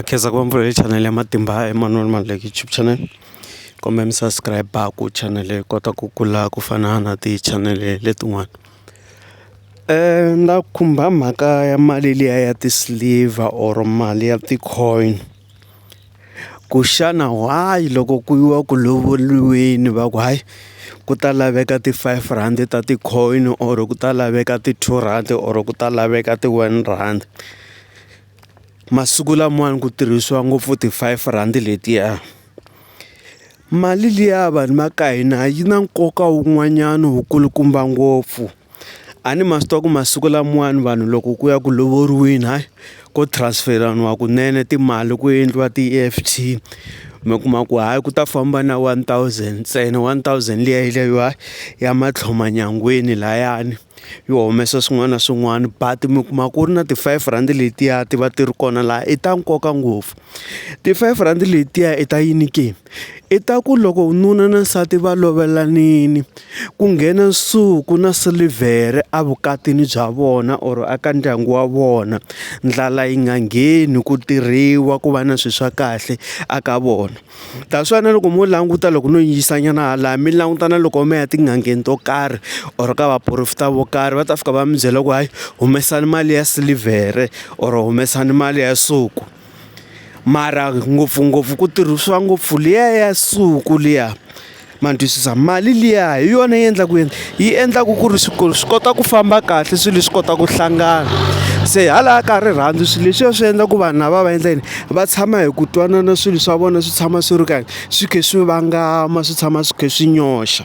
khensa ku va mbulavurile channel ya matimba Emmanuel Maluleke YouTube channel kumbe mi subscribe-a ku channel yi kota ku kula ku fana na ti-channel letin'wana na khumba mhaka ya mali liya ya ti-silver or mali ya ti-coin ku xana why loko ku yiwa ku lovoriweni va ku hayi ku ta laveka ti-five rand ta ti-coin or ku ta laveka ti-two rhandi or ku ta laveka ti-one rand. masiku lamawani ku tirhisiwa ngopfu ti five rand letiya mali liya vanhu va ka hina yi na nkoka wun'wanyana wu kulukumba ngopfu a ni ma swi tiva ku masiku lamawani vanhu loko ku ya ku lovoriweni hayi ko transfer-iwa kunene timali ku endliwa ti E_F_T mi kuma ku hayi ku ta famba na one thousand ntsena one thousand liya yi ya matlhelo manyangweni layani. yi humesa swin'wana na swin'wana but mi kuma ku ri na ti-five rhandi letiya ti va ti ri kona laha i ta nkoka ngopfu. Ti-five rhandi letiya i ta yini ke? I ta ku loko nuna na nsati va lovelanile ku nghena nsuku na silivhere evukatini bya vona or a ka ndyangu wa vona ndlala yi nga ngheni ku tirhiwa ku va na swilo swa kahle eka vona. Ta swi vona loko mo languta loko no yingisa nyana hala mi langutana loko mi ya tin'angeni to karhi or ka vaporofeta vo karhi va ta fika va mi byela ku hayi humesani mali ya silivhere or humesani mali ya nsuku mara ngopfungopfu ku tirhisiwa ngopfu liya ya nsuku liya. ma ni twisisa mali liya hi yona yi endlaka ku yini yi endlaka ku ri swikolo swi kota ku famba kahle swilo swi kota ku hlangana se hala ka rirhandzu swilo leswiya swi endla ku vanhu lava va endla yini va tshama hi ku twanana swilo swa vona swi tshama swi ri kahle swi kha swi vangama swi tshama swi kha swi nyoxa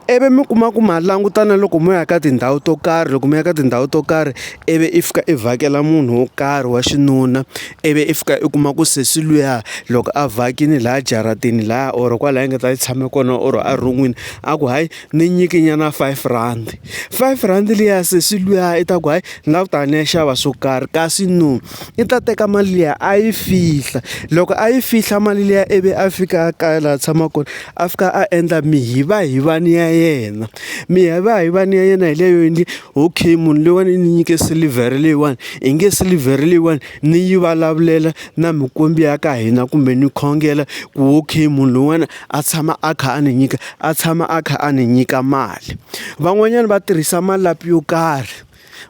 ivi mi kuma ku ma langutana loko mo ya ka tindhawu to karhi loko mi ya ka tindhawu to karhi ivi i fika i vhakela munhu wo karhi wa xinuna. ivi i fika i kuma ku sesi luya loko a vhakini laha jaratini laha or kwala a nga ta yi tshame kona or a ron'wini a ku hayi ni nyiki nyana five rand five rand liya sesi luya i ta ku hayi ni la ku ta ni ya xava swo karhi kasi no i ta teka mali liya a yi fihla loko a yi fihla mali liya ivi a fika a kaya laha a tshamaka kona. a fika a endla mihivahivani ya yena mihivahivani ya yena hi leyo endli okay munhu leyiwani i ni nyike silivhere leyiwani i nge silivhere leyiwani ni yi vulavulela na mikwembu ya ka hina kumbe ni khongela ku okay munhu loyiwani a tshama a kha a ni nyika a tshama a kha a ni nyika mali van'wanyana va tirhisa malapi yo karhi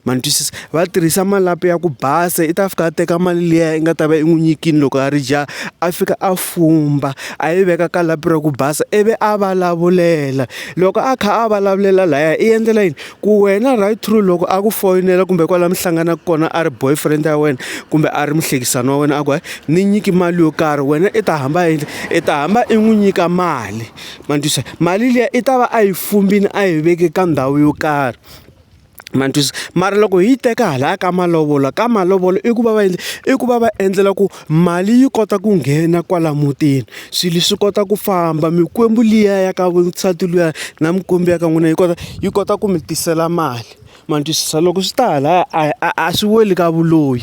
Ma ni twisisa va tirhisa malapi ya ku basa i ta fika a teka mali liya i nga ta va i n'wi nyikile loko a ri jaha a fika a fumba a yi veka ka lapi ra ku basa i vi a vulavulela loko a kha a vulavulela laya i endlela yini ku wena right through loko a ku foyinela kumbe kwala mi hlanganaka kona a ri boyfriend ya wena kumbe a ri muhlekisani wa wena a ku hayi ni nyiki mali yo karhi wena i ta hamba i i ta hamba i n'wi nyika mali ma ni twisisa mali liya i ta va a yi fumbile a yi veke ka ndhawu yo karhi. ma ni twisisa mara loko hi yi teka halaya ka malovolo ka malovolo i ku va va endla i ku va va endlela ku mali yi kota ku nghena kwala mutini swilo swi kota ku famba mikwembu liya ya ka nsati luya na mikwembu ya ka n'wina yi kota yi kota ku mi tisela mali ma ni twisisa loko swi ta halaya a a a swi weli ka vuloyi.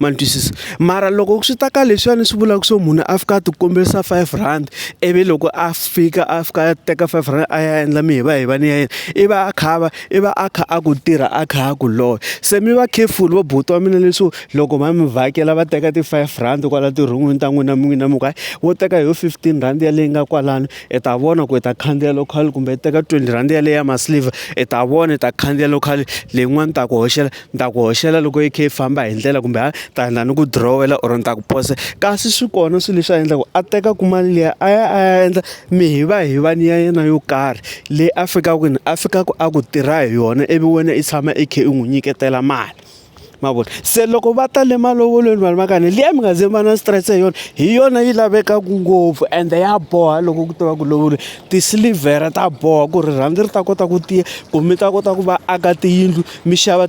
ma ni twisisa mara loko swi ta ka leswiyani swi vulaka swo munhu a fika a ti kombisa five rand ivi loko a fika a fika a teka five rand a ya endla mihivahivana ya yena i va a kha a va i va a kha a ku tirha a kha a ku lorha se mi va careful vo buti wa mina leswo loko va mi vhakela va teka ti five rand kwala tirhungwini ta n'wina n'wina mi ku hayi wo teka hi yo fifteen rand ya leyi nga kwalano i ta vona ku i ta khandziya local kumbe teka twenty rand yaleyo ya ma silver i ta vona i ta khandziya local leyin'wani ni ta ku hoxela. ni ta ku hoxela loko yi kha yi famba hi ndlela kumbe a ta na ni ku dirowela or ni ta ku posa kasi swi kona swilo leswi a endlaka a tekaka mali liya a ya a ya endla mi hi va hi va ni ya yena yo karhi leyi a fikaka kwini a fikaka a ku tirha hi yona ivi wena i tshama i kha i n'wi nyiketela mali ma vona se loko va ta le malovolweni vanhu va kani liya mi nga ze va na stress hi yona hi yona yi lavekaka ngopfu ende ya boha loko ku tiva ku lovole tisilivhere ta boha ku rirhandzu ri ta kota ku tiya ku mi ta kota ku va aka tiyindlu mi xava.